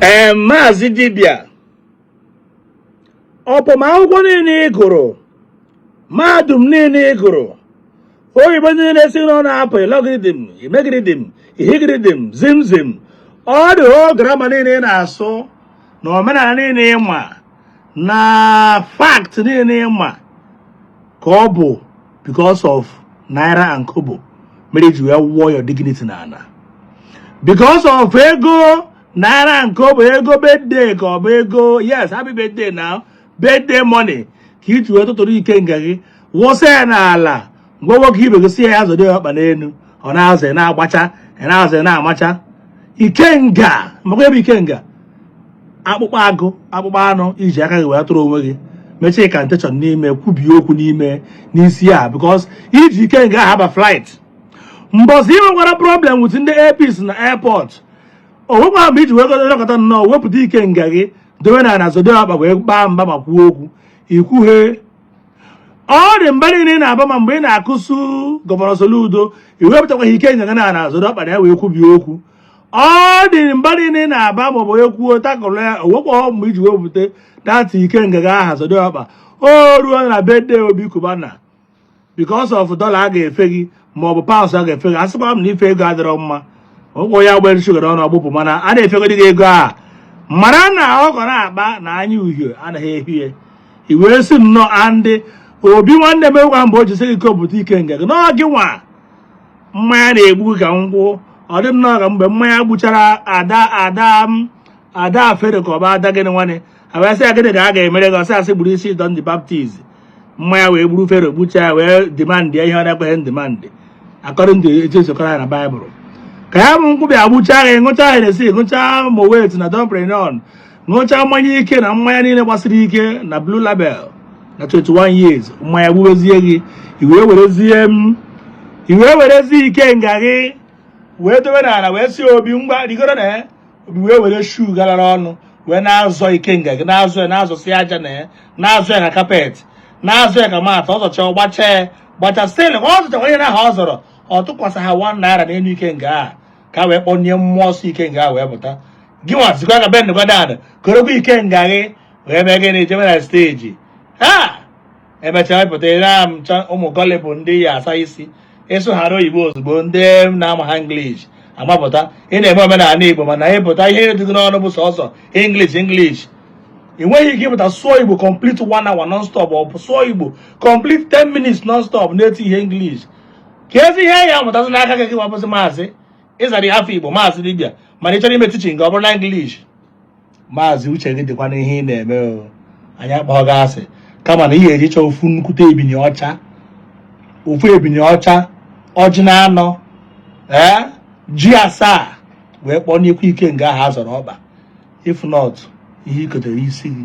ee maazị dibịa upon akwụkwọ niile ị gụrụ mahadum niile ị gụrụ oyibo niile si gị n'ọnụ apụ ilọgiridim imegiridim ihigiridim zimzim ọ dị o grammar niile ị na-asụ na omenala niile ị ma na fact niile ị ma ka ọ bụ because of naira and kobo mere i ji wee wụọ your dignity n'ana because of ego naira and kobo ego birthday ka ọ bụ ego yes happy birthday now birthday money ka i ji wee tụtụrụ ikenga gị wụsa ya n'ala gwa nwoke ibe gị sị ya zọdo ọkpa n'elu ọ na-azọ na-agbacha na-azọ na-amacha ikenga makwa ebe ikenga akpụkpọ agụ akpụkpọ anụ i ji aka gị wee tụrụ onwe gị mechie ka ntechọn n'ime kwubie okwu n'ime n'isi a because i ji ikenga aha aba flight mbọsị ị nwekwara problem with ndị APC na airport o nwekwa mgbe i ji wee lekọta nnọọ wepụta ikenga gị dowe n'ana zọdo ọkpa wee gbaa mba ma kwuo okwu i kwughe ọ dị mba niile ị na-aba ma mgbe ị na-accuse gọvanọ Soludo i wepụtakwaghị ikenga gị n'ana zọdo ọkpa na ya wee kwubie okwu ọ dị mba niile ị na-aba maọbụ onye kwuo takụrụ ya o nwekwa mgbe i ji wepụta that ikenga aha ọkpa o ruo na birthday Obi Cubana because of dollar a ga-efe gị maọbụ pounds a ga-efe gị asịkwa m na ife ego adịrọ mma ụkwụ ya gbere shuga n'ọnụ ọ gbụpụ mana a na-efegodi gị ego a mara na ọkọ na-akpa na anya uhie anaghị ehie i wee sị nnọọ ndị Obi nwanne m egwa mgbe o jisi gị kopụta ikenga gị n'ọ gị nwa mmanya na-egbu ka nkwụ ọ dị nnọọ ka mgbe mmanya gbuchara ada ada ada Fero ka ọ bụ ada gịnị nwanne a bịa sị ya gịnị ka a ga-emere gị ọ sị sị gburu isi John the Baptist mmanya wee gburu Fero gbucha ya wee demand ihe ọ na-ekwesịghị demand according to etu e si kọrọ ya na Baịbụl ka ya bụ nkwụ bịa gbuchaa ya ị ṅụcha Hennessy ị ṅụcha Moet na Dom Perignon ṅụcha mmanya ike na mmanya niile gbasiri ike na blue label na 21 years mmanya gbuwezie gị i wee werezie i wee werezie ikenga gị wee dowe n'ala wee sị Obi ngwa rigoro na ya Obi wee were shoe galara ọnụ wee na-azọ ikenga gị na-azọ ya na-azọsi aja na ya na-azọ ya ka carpet na-azọ ya ka mat ọ zọcha gbacha ya gbacha still ọ zọcha onye na aha ọ zọrọ ọ tụkwasịha 1 naira n'elu ikenga a ka a wee kpọnye mmụọ nsọ ikenga wee pụta gị nwa sịkwa ka bend kwa down korokwa ikenga gị wee mee gịnị jebe na stage ha emechaa wepụta ire amịcha ụmụ gọlị bụ ndị ya asa isi ị sụghara oyibo ozugbo ndị na-amaha English amapụta ị na-eme omenala Igbo mana ị pụta ihe dị gị n'ọnụ bụ sọsọ English English ị nweghị ike ịpụta sụọ Igbo complete one hour non-stop ọ bụ sụọ Igbo complete 10 minutes non-stop na-etihe English kezi ihe ya amụtazi n'aka gị wa bụzi maazị ị zara nwa afọ igbo maazị dibia mana ị chọrọ ime teaching gị ọ bụrụ na English maazị uche gị dịkwa n'ihe ị na-eme o anyị akpọghọ gị asị kama na ihe eji chọọ ofu nnukwute ebini ọcha ofu ebini ọcha ọjị na anọ ee ji asaa wee kpọọ n'ikwu ike nga ahụ a zọrọ ọkpa if not ihe i kotere isi gị